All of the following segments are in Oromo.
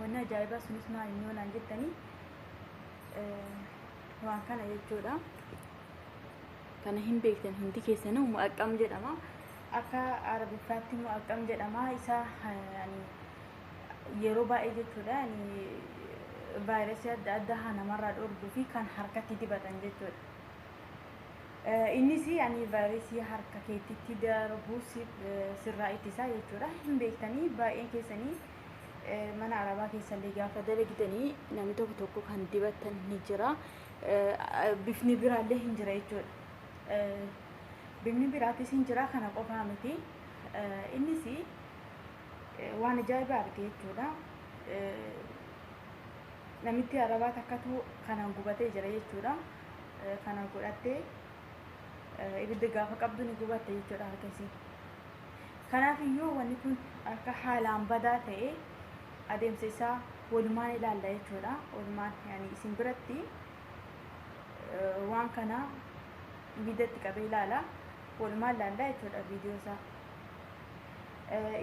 Wanni ajaa'ibaa sunis maal inni yoonaan jettanii waan kana jechuudha. Kana hin beektan hundi keessanuu mu'aqqam jedhama. Akka arabiffaatti mu'aqqam jedhama. Isa yeroo baay'ee jechuudha vaayirasii adda addaa namarraa dhoorguu fi kan harkatti dibatan jechuudha. Innis ani vaayirasii harka keettitti darbuu sirraa ittisaa jechuudha. Hin beektanii baay'een keessanii mana arabaa keessallee gaafa dalagdanii namni tokko tokko kan dibatan ni jira. Bifni biraallee hin jira jechuudha. Bifni biraatis hin jira kana qofaa miti. Innis waan ajaa'ibaa arge jechuudha. Namitti arabaa takkatu kanaan gubatee jira jechuudha. Kana godhattee ibidda gaafa qabdu ni gubatte jechuudha harkasii. Kanaaf iyyuu wanni kun akka haalaan badaa ta'ee adeemsa isaa walumaan ilaalla jechuudha. Walumaan yani isin biratti waan kana ibiddatti qabee ilaala. Walumaan ilaalla jechuudha viidiyoo isaa.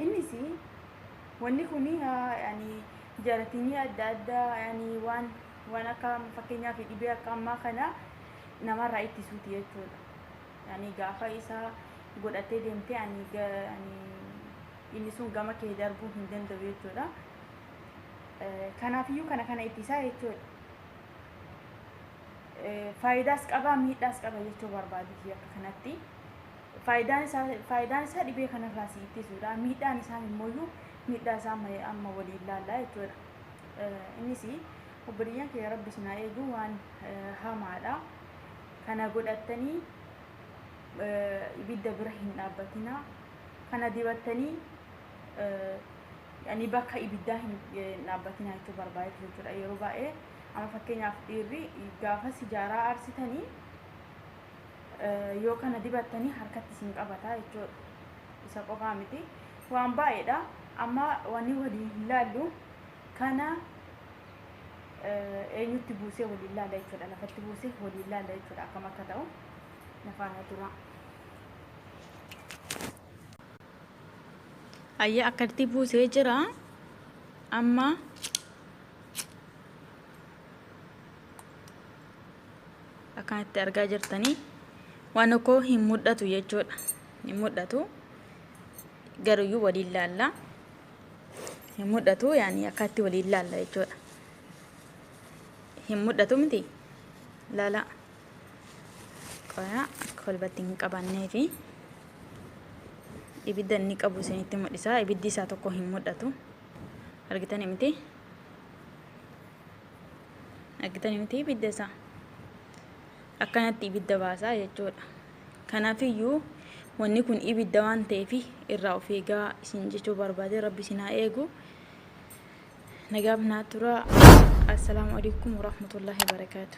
Innis wanni kun yani jaratinii adda addaa yani waan waan akka fakkeenyaaf dhibee akka ammaa kana namarraa ittisuuti jechuudha. Ani gaafa isa godhattee deemtee ani inni sun gama kee darbuu hin danda'u jechuudha. Kanaafiyyuu kana kana ittisaa jechuudha. Faayidaas qaba miidhaas qaba jechuu barbaaditi akka kanatti. Faayidaan isaa faayidaan isaa dhibee kanarraa si ittisuudha. Miidhaan isaa immoo miidhaa isaa amma amma waliin ilaalla jechuudha. Innis obboleeyyan kee rabbi sinaa eegu waan hamaadha. Kana godhattanii ibidda bira hin dhaabbatinaa. Kana dibattanii yani bakka ibiddaa hin dhaabbatinaa jechuu barbaadetu jechuudha. Yeroo baay'ee amma fakkeenyaaf dhiirri gaafa sijaaraa aarsitanii yoo kana dibattanii harkatti isin qabata jechuudha. Isa qofaa miti. Waan baay'eedha. Amma wanni waliin hin laallu. Kana eenyutti buusee waliin laala jechuudha. Lafatti buusee waliin laala jechuudha akkam akka ta'u nafaana turaa. Ayya akkatti buusee jira amma akkanatti argaa jirtanii waan koo hin mul'atu jechuudha. Hin mul'atu garuyyuu waliin laalla. hin mul'atu yaani akkaatti waliin laalla jechuudha hin mul'atu miti laala qoyaa akka kolbatti hin qabannee fi ibidda inni qabu isinitti mul'isa ibiddi isaa tokko hin mul'atu argitani miti argitani miti ibidda isaa akkanatti ibidda baasaa jechuudha Kanaafiyyuu wanni kun ibidda waan ta'eef irraa of eegaa isin jechuu barbaade rabbi isin haa eegu. Nagaaf naa tura. Assalaamu alaikum warahmatullahi wabarakaatu.